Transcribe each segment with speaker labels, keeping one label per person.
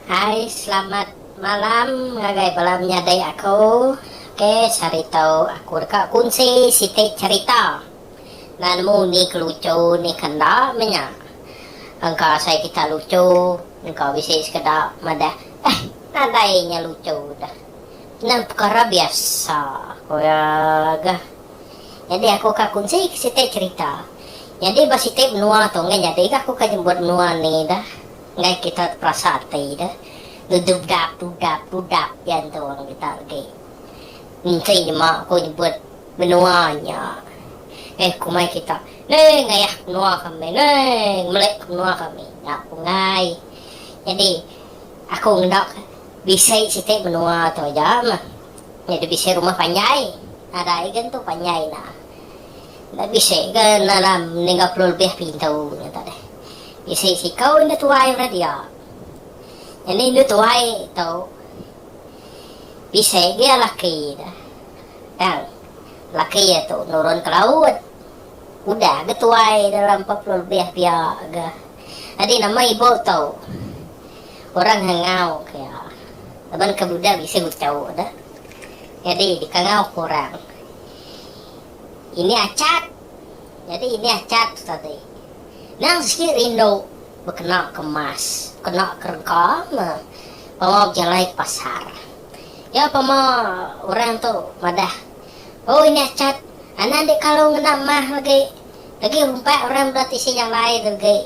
Speaker 1: Hai selamat malam ngagai bala menyadi aku. Okey sehari tu aku deka kunsi siti cerita. Enda nemu ni ke lucu ni ke enda menya. Engka asai kita lucu engka bisi sekeda madah eh nadai nya lucu da. Nya pekara biasa ku iya ga. Nyadi aku ka kunsi ke siti cerita. Nyadi ba siti menua tu enggai nyadi ga aku ka nyebut menua ni da. Enggai kita terasa ati da. Dudap dudap dudap diantu orang kita agi. Enti nyema aku nyebut. Menua nya. Neh kumai kita. Neh ngayah menua kami. Neh ngemelik menua kami. Nya ku enggai. Nyadi aku ngeda bisi siti menua tu aja meh. Nyadi bisi rumah panjai. Nadai ga entu panjai enda. Enda bisi ga dalam niga puluh lebih pintu nya tu deh. Bisi siku indu tuai meda dia. Nyadi indu tuai tu bisi ga laki ne. Tang, laki iya tu nurun ke laut. Udah ga tuai dalam empat puluh lebih pia ga. Nyadi nama ibu tu? Orang Hangau ke iya. Laban ke udah bisi uchu dah. Nyadi dikangau ke orang. Ini Achat. Nyadi ini Achat tu tadi. Nang sigi rindu bekena ke emas, bekena ke rega meh. Pengawa bejalai ke pasar. Iya pema orang tu madah, Hoo nya chat anak dik kalu ngena mah agi, agi humpat orang bela tisi nya alai tu agi.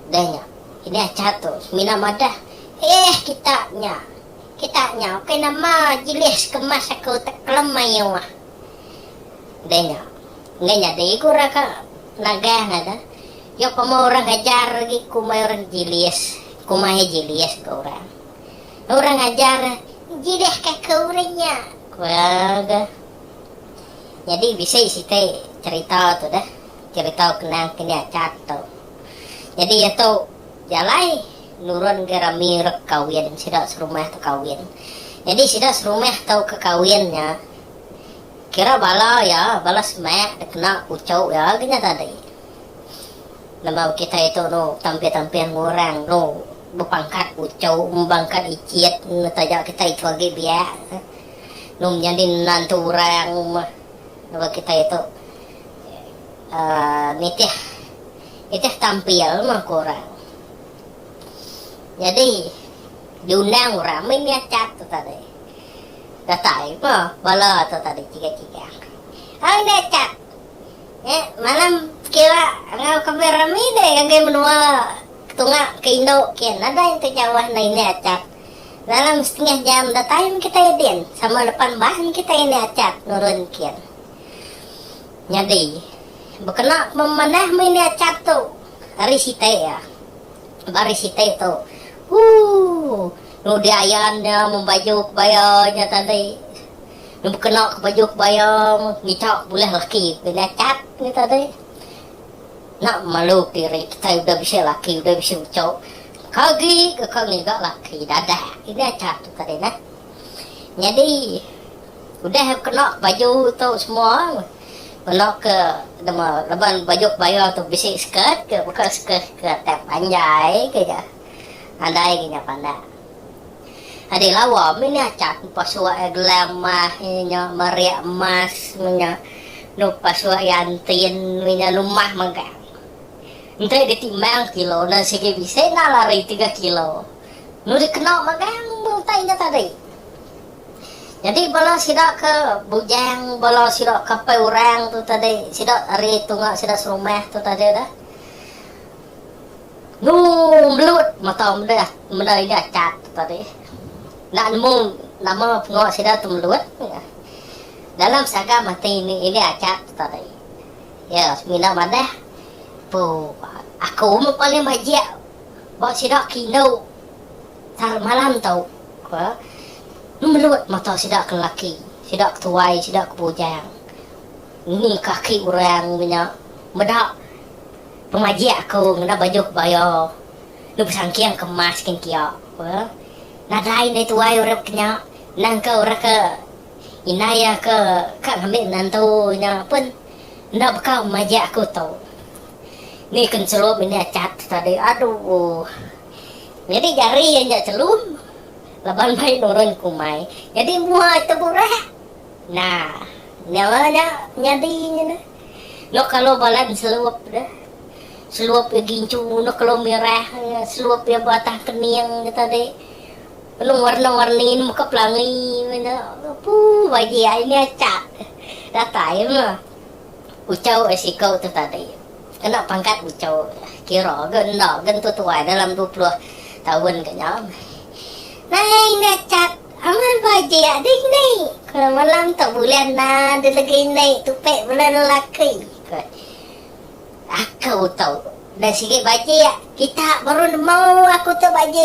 Speaker 1: Udah nya, inya chat tu semina madah, Eeh kita nya, kita nya ukai nama jilih sekemas aku tekelem mayuh. Udah nya, enggai nyadi ku orang ke nagah ngaga, iya pema orang ke ajar agi kumbai orang jilis, kumai jilis ke orang. Orang ajar nyidahka ke orang nya, ku iya ga. Nyadi bisi siti cherita tu deh, cherita kenang ke nya chat tu. Nyadi iya tu jalai nurun ga rami rek kawin, sida serumah tu kawin. Nyadi sida serumah tu ke kawin nya kira bala iya, bala semak dek kena puchu iya ga nya tadi. Lembau kitai tu nu tampil-tampil ngurang nu Bepangkat uchu ngembangka ikit ne taja kitai tu agi biak num nyadi menantu orang meh ngagai kitai tu uhh nitih nitih tampil meh ku orang. Nyadi diundang orang mih mih achat tu tadi. Datai meh bala tu tadi chigang-chigang. Ai enda achat. Nya malam kira enggau kembi remi deh ngagai menua ketunga ke indu kian nadai enti nyawa enda ini achat. Dalam setengah jam datai meh kitai din sama depan ban kitai ini achat nurun kian. Nyadi bekena ke memanah meh ini achat tu ari siti iya. Ba ari siti tu ooh nudi ayan nya membaju kebaya nya tadi. Nang bekena ke baju kebaya ngicha bulih laki ke nyachat nya tadi. Enda malu diri kitai udah bisi laki udah bisi uchu. Ka agi ke ka ngiga laki dadah ke nyachat tu tadi nah. Nyadi udah bekena ke baju tu semua kena ke nama laban baju kebaya tu bisi skirt ke baka skirt ke atai panjai ke ja. Andai ke nya pandak. Ade lawa meh nya cat pasuk iya gelam mah iya nya meriak emas meh nya nuk pasuk iya entin meh nya lumah mega. Enti ditimbang kilo ne sigi bisi enda lari tiga kilo. Nuk dikena megang meh utai nya tadi. Nyadi bala sida ke bujang bala sida ke apai orang tu tadi sida ari tunga sida serumah tu tadi dah. Ngu mlut mata meda meda inya chat tu tadi. Enda nemu nama pengawa sida tu mlut. Dalam sagam ati inya chat tu tadi. Ya semina madah pu aku meh paling bajik ba sida ke indu tara malam tu. Ngu mlut mata sida ke lelaki, sida ke tuai, sida ke bujang. Ngini kaki orang inya meda. Pemajik aku ngena baju ke bayo enu besangking ke emas kin kia ku iya. Nadai indai tuai urip ke nya nangka orang ke indai iya ke ka ngambi menantu nya pun enda baka pemajik aku tu. Ni ke nselum ini achat tu tadi aduh. Nyadi jari iya nya selum laban mai nurun ke umai. Nyadi mua ito burak. Nah, nyawa nya nyadi nya neh. Noh kalo balan selup ne. Selup iya gincu noh kalo mirah iya. Selup iya ba atah kening nya tadi. Lalu warna-warni ne meka pelangi meh nya. Puh bagi ai nya acak. Datai meh. Ucau ai siku tu tadi. Kena pangkat ucau kira ga enda ga tentu tuai dalam dua puluh taun ga nya. Nai nya acak. Amat ba ji ading ni. Keluar malam tu bulan enda ada legi ni tupai bulan lelaki ko aku tu. Dah sigi ba ji kita baru nemu aku tu ba ji.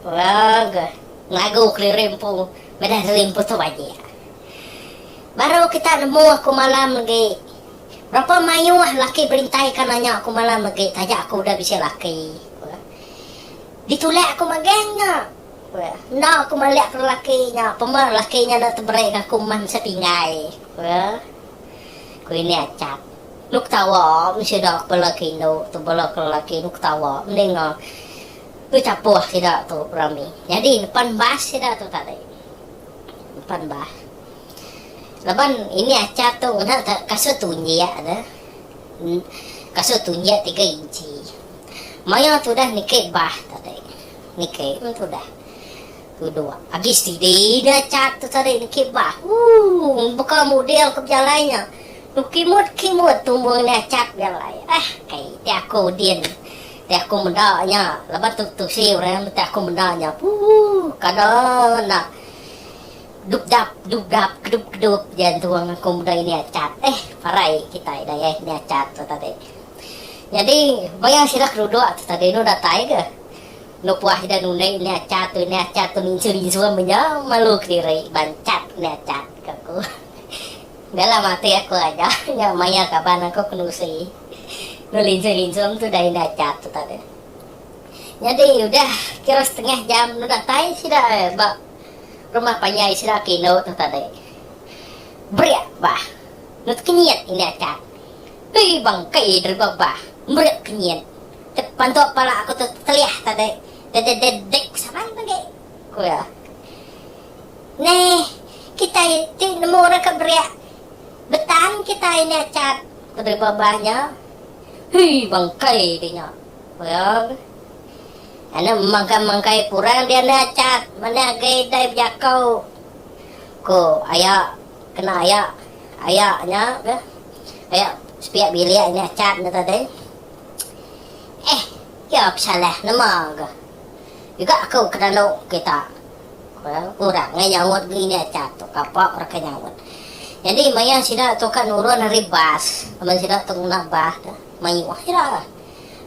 Speaker 1: Woo ko lagu keliri empu meda sili empu tu ba ji. Baru kita nemu aku malam legi. Berapa mayuh laki berintai ka nanya aku malam legi taja aku udah bisi laki ko. Ditulak aku magang nya. Ku iya. Enda aku malik ke lelaki nya, pemeh lelaki nya enda temeri ke aku meh misa tinggai, ku iya. Ku ini Achat. Nuk ketawa mih sida ke bela ke indu tu bela ke lelaki tu ketawa mendinga bechapuh sida tu rami. Nyadi nepan bas sida tu tadi. Nepan bas. Laban ini Achat tu ngena ke kasut tunjik tu. Kasut tunjik tiga inchi. Maya tudah niki bas tadi. niki mentu dah kedua agi steady dia chat tu tadi niki bah ooh baka model ke bejalai nya tu kimut kimut tumbung nya chat bejalai eh kai ti aku din ti aku meda nya laban tu tusi orang meh ti aku meda nya ooh kada enda dupdap dupdap kedup kedup ja tuang aku meda ini chat eh parai kitai dayah nya chat tu tadi jadi baya sida keduduk tu tadi enu datai ke. Lebuh ida nunai nih acha tu nih acha tu ninsu ninsu am aja malu kediri banchat nih acha tu ka ku. Enda lah matik aku aja nya maya kaban aku ke nusi dulu linsu linsu am tu dai nih acha tu tadi. Nyadi udah kira setengah jam dulu datai sida ba rumah panjai sida ke indu tu tadi. Berik bah dut kenyit nih acha. Dui bangkai deriba bah berik kenyit. Tepantuk pala aku tu teliah tadi dedededek saban pagi, ku iya. Neh, kitai ti nemu orang ke bereak betan kitai nya Chat, ku driver bas nya. Hii bangkai ti nya, ku iya. Anu mangkai-mangkai purang dia nya Chat, mania agi dai bejakau, ku aya kena aya aya nya, aya sepiak bilik nya Chat nya tadi. Eh, iya pesalah nema ga juga aku ke dalu kita, ku iya. Orang ngai nyaut ngelinda aja tu kapa orang ke nyaut. Nyadi maya sida tu ka nurun ari bas laban sida tu ngena bah tu, mayuh sida ga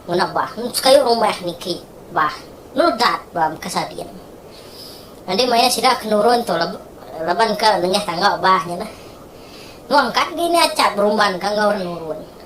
Speaker 1: ngena bah. Sekayu rumah niki bah meledat ba meka sadin. Nyadi maya sida ke nurun tu laban ke nengah tangga bah nya tu, nuan ka ngelinda aja berumban ka enggau orang nurun.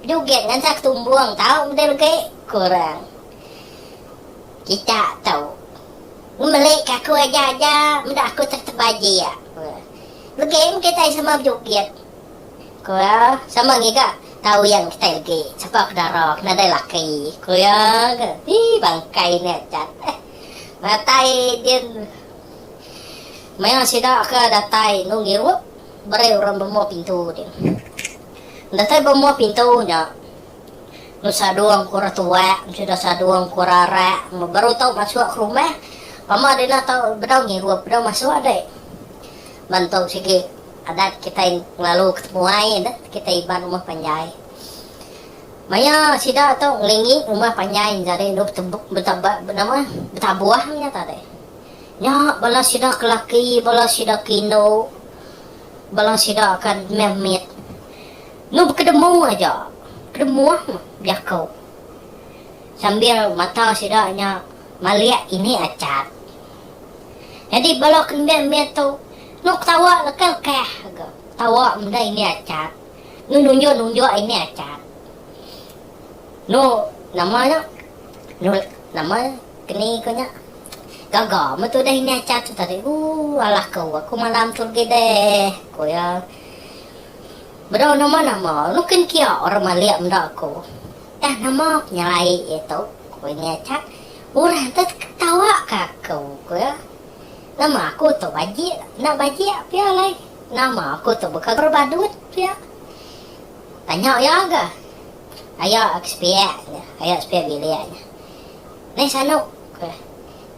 Speaker 1: Dugit ngansa ke tumbung tau meda regi kurang kita tu ngemeli ke aku aja aja meda aku tertebal jia ku iya. Legi meh kitai sama bejugit ku iya sama ngiga tau yang kitai legi sapa ke dara ke nadai laki ku iya ke ii bangkai nya aja eh matai din maya sida ke datai enu ngirup beri orang bembo pintu din. Datai ba mua pintu nya. Lu Sadong ku Ratuak besudah Sadong ku Rarak baru tau masuk ke rumah. Mama Dina tau bedau ngirup bedau masuk deh. Ban tu sigi adat kitai ngelalu ke temuai adat kitai Iban rumah panjai. Maya sida tu ngelingi rumah panjai jadi lu betaba betabuh nya tadi. Nya bala sida ke laki bala sida ke indu bala sida akan meh mit enggau bekedemu aja kedemuh jaku sambil mata sida nya malik ini achat. Nyadi bala ke meh mit tu enda ketawa lekeh keh ga ketawa meda ini achat enggau nunjuk-nunjuk ini achat. Enu nama nya. Nurut nama keni ko nya. Gaga me tu deh ini acha tu tadi. Ooh alah ko aku malam tu legi deh ko iya. Bedau nama nama nukin kia orang malik meda ko. Tah nama penyeraie iya tu ko ini acha. Orang tu ketawa ka aku ko iya. Nama aku tu bajik enda bajik pia alai. Nama aku tu beka berbadut pia. Tanya iya ga. Ayo ke sepiak, ku iya. Ayo ke sepiak bilik, ku iya. Neh Sanok, ku iya.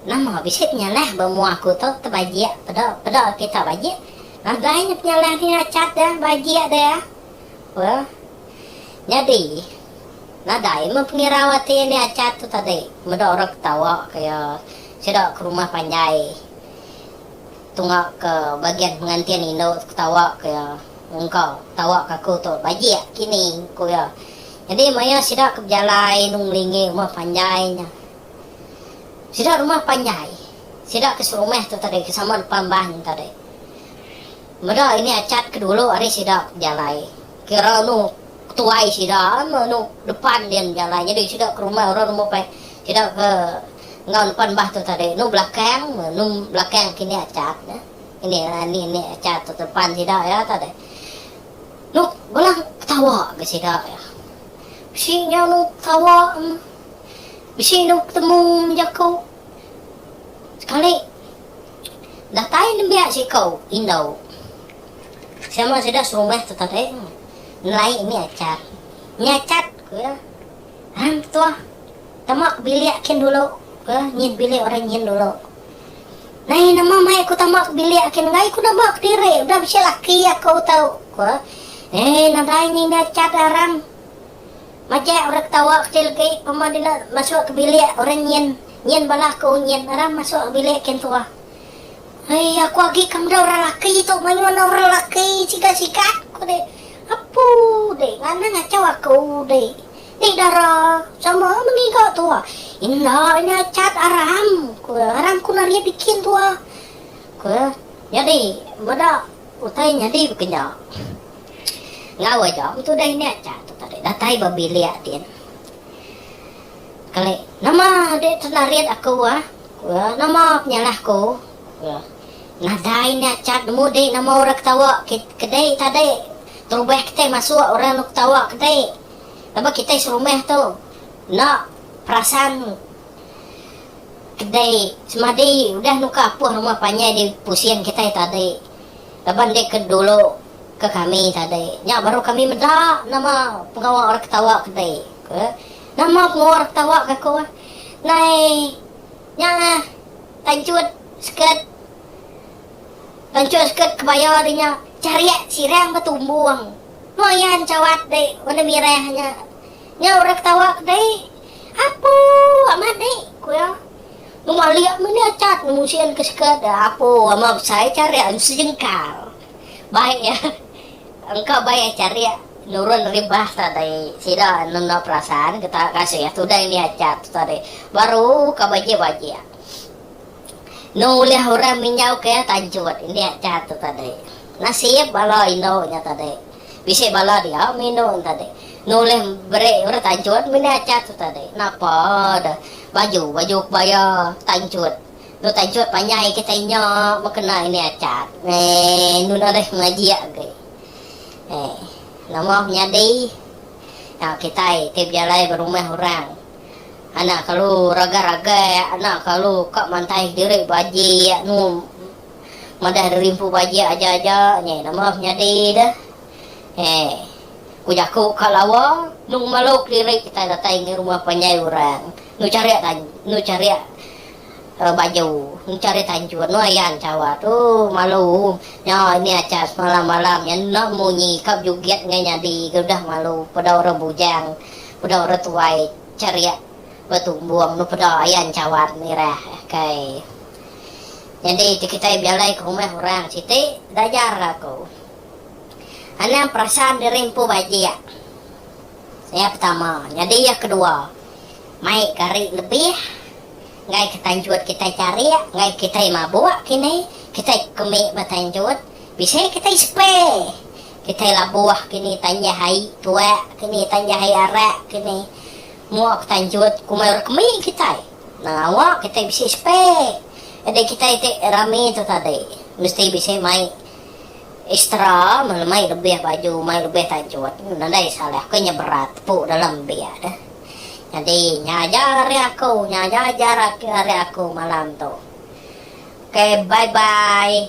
Speaker 1: Nama bisi penyalah ba mua aku tu tebajik peda peda kita bajik. Ngagai nya penyalah ti achat dia bajik dia, ku iya. Nyadi nadai meh pengirau ati enda achat tu tadi. Meda orang ketawa, ku iya. Sida ke rumah panjai. Tunggaka bagian pengantin indu tu ketawaka iya, Engka tawaka aku tu bajik kini, ku iya. Nyadi maya sida ke bejalai Long Melinggih rumah panjai nya. Sida rumah panjai. Sida ke serumah tu tadi ke sama depan bank tadi. Meda ini achat ke dulu ari sida ke bejalai. Kira anu ketuai sida, anu depan dia bejalai. Nyadi sida ke rumah orang rumah panjai. Sida ke enggau nempan bah tu tadi nu belakang nu belakang kinik acha tu ini ini ni acha tu tempan sida iya tadi nu bela ketawa ga sida iya bisi nya nu ketawa bisi nu betemu bejaku sekali datai nembiak siko indau sama sida serumah tu tadi nelai ini acha nya acha ku iya hang tuah. Tama bilik kin dulu ke nyin bilik orang nyin dulu. Nai nama mai aku tama ke bilik kin enggai ku neba kediri udah bisi laki aku tu ku eh nadai nyin dah chat aram. Majak orang ketawa kecil agi pemah dina masuk ke bilik orang nyin nyin bala aku nyin aram masuk ke bilik kin tuah. Hei aku agi ka meda orang laki tu mayuh enda orang laki sigat sigat ku deh. Apu deh ngana ngachau aku deh. Ni dara, sama mengiga tua. Inda nya cat aram, ku iya. Aram ku naria bikin tua, ku iya. Nyadi meda utai nyadi bekeja. Enggau aja am tudah india cat tu tadi. Datai ba bilik din. Kali, nama dek tenarit aku ah, ku iya. Nama penyalah ku, ku iya. Nadai india cat nemu dek nama orang ketawa ke kedai tadi. Terubah kitai masuk orang enda ketawa kedai. Laban kitai serumah tu enda perasan kedai semadi udah nuka apuh rumah panjai di pusing kitai tadi laban dek ke dulu ke kami tadi nya baru kami meda nama pengawa orang ketawa kedai ke nama pengawa orang ketawa ke aku nai nya tanchut skirt tanchut skirt kebaya ri nya chariak sirang betumbung. Meh iya encawat deh benda mirah nya. Nyau orang ketawa ke deh. Apo amat deh, ku iya. Nemu alik meh ni achat nemu sien ke seket. Apo amat besai charik anu sejengkal. Bai iya. Engka bai iya charik nurun ribah tu tadi. Sida nunda perasan ke taap kasih tudai ni achat tu tadi. Baru ka bajik-bajik. Enu ulih orang minjauka iya tanjut indik nya tu tadi. Nasib bala indu nya tadi. Bisi bala dia minum nya tadi. Enu ulih beri orang tanjut meda aja tu tadi. Napa deh baju baju kebaya tanjut. Enu tanjut panjai kitai nya meh kena indik aja. Eeh enu nadeh ngaji agi. Eeh nama menyadi. Nya kitai ti bejalai ba rumah orang. Anak kalu ragai-ragai, anak kalu ka mantaih diri baji anu madah derimpu baji aja-aja nyai nama penyadi deh. Heh. Ku jaku ka lawa, nu ngemalu kediri kitai datai ngi rumah panjai orang, nu cari tan nu cari uh, baju, nu cari tanjun, nu ayan cawa tu malu. Nya ini acha semalam-malam nya enda munyi ka bejugit ngai nyadi ke udah malu peda orang bujang. Udah orang tuai charik betumbung nu peda ayan cawan mirah kai. Nyadi ti kitai bejalai ke rumah orang siti enda ajar aku anang perasan diri empu bajik. Iya pertama. Nyadi iya kedua mai ke hari lebih enggai ke tanjut kitai charik enggai kitai mabuk kini kitai ke mih betanjut. Bisi kitai sepai. Kitai labuh kini tanjah ai tuak kini tanjah ai arak kini. Mua ku tanjut ku mai orang kemi kitai. Nang awak kitai bisi sepai. Edi kitai ti rami tu tadi mesti bisi mai extra meh mai lebih baju mai lebih tanjut. Nadai salah ke nya berat tepu dalam biak deh. Nyadi nya aja ari aku nya aja ajar ari aku malam tu. Okay bye bye.